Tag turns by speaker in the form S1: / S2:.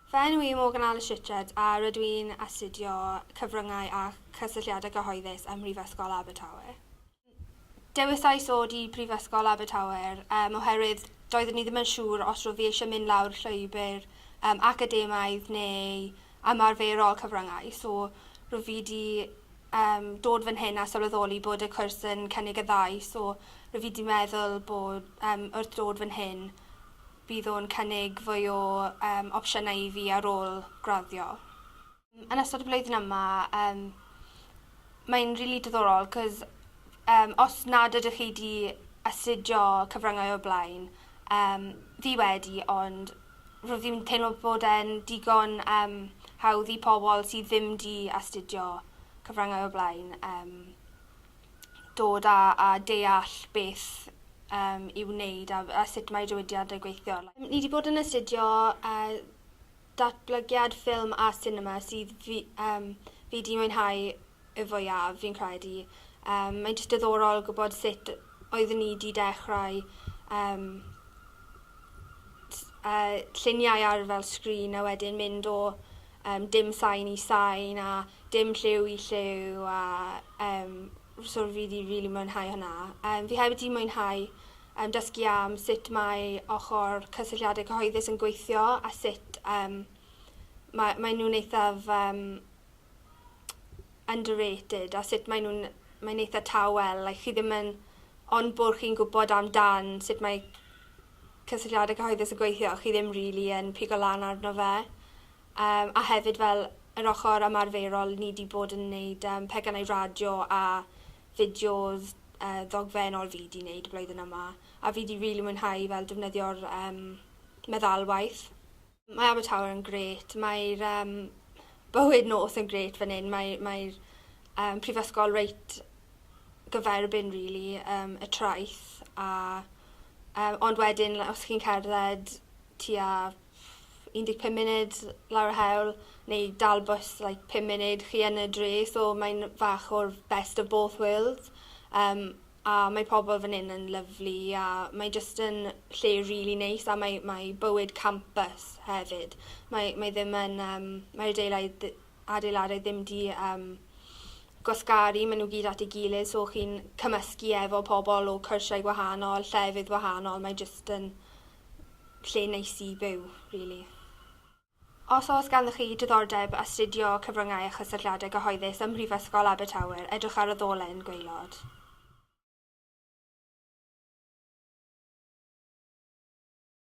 S1: Fy enw i yw Morgan Alice Richards a rydw i'n astudio Cyfryngau a Chysylltiadau Cyhoeddus ym Mhrifysgol Abertawe. Dewisais ddod i Brifysgol Abertawe um, oherwydd doeddwn i ddim yn siŵr os roedd fi eisiau mynd lawr llwybr um, academaidd neu ymarferol cyfryngau. So, rwy fi di yym dod fan hyn a sylweddoli bod y cwrs yn cynnig y ddau. So, rwy fi di meddwl bod yym wrth dod fan hyn bydd o'n cynnig fwy o yym opsiynau i fi ar ôl graddio. Yn ystod y flwyddyn yma yym mae'n rili diddorol cos yym os nad ydych chi di astudio cyfryngau o'r blaen yym fi wedi ond rydw i'n teimlo bod e'n digon yym hawdd i pobl sydd ddim 'di astudio cyfryngau o'r blaen yym dod a a deall beth yym i'w wneud a a sut mae diwydiant yn gweithio. Ni 'di bod yn astudio yy datblygiad ffilm a sinema sydd fi yym fi 'di mwynhau y fwyaf fi'n credu. Yym mae'n jyst diddorol gwybod sut oeddwn i 'di dechrau yym t- yy lluniau ar fel sgrin a wedyn mynd o yym dim sain i sain a dim lliw i lliw a yym so fi 'di rili mwynhau hwnna. Yym fi hefyd 'di mwynhau yym dysgu am sut mae ochr cysylltiadau cyhoeddus yn gweithio a sut yym ma' maen nhw'n eithaf yym underrated a sut mae nhw'n... mae'n eitha tawel, like chi ddim yn... Ond bod chi'n gwybod am dan sut mae cysylltiadau cyhoeddus yn gweithio, chi ddim rili yn pigo lan arno fe. Yym a hefyd fel yr ochr ymarferol ni 'di bod yn neud yym pecynnau radio a fideos yy ddogfennol fi 'di neud y blwyddyn yma a fi 'di rili mwynhau fel defnyddio'r yym meddalwaith. Mae Abertawe yn grêt, mae'r um, bywyd nos yn grêt fan hyn, mae'r mae um, prifysgol reit gyferbyn, really, um, y traeth, a, um, ond wedyn, os chi'n cerdded tua 15 munud lawr y hewl, neu dal bus like, 5 munud, chi yn y dre, so mae'n fach o'r best of both worlds. Um, A mae pobl fan hyn yn lyfli a mae jyst yn lle rili neis a mae mae bywyd campus hefyd. Mae mae ddim yn yym mae'r adeilaidd ddi- adeiladau ddim 'di yym gwasgaru ma' nw gyd at ei gilydd so chi'n cymysgu efo pobl o cyrsiau gwahanol, llefydd wahanol, mae jyst yn lle neis i byw rili. Os oes ganddoch chi diddordeb astudio cyfryngau a chysylltiadau cyhoeddus ym Mhrifysgol Abertawe, edrych ar y ddolen gwaelod.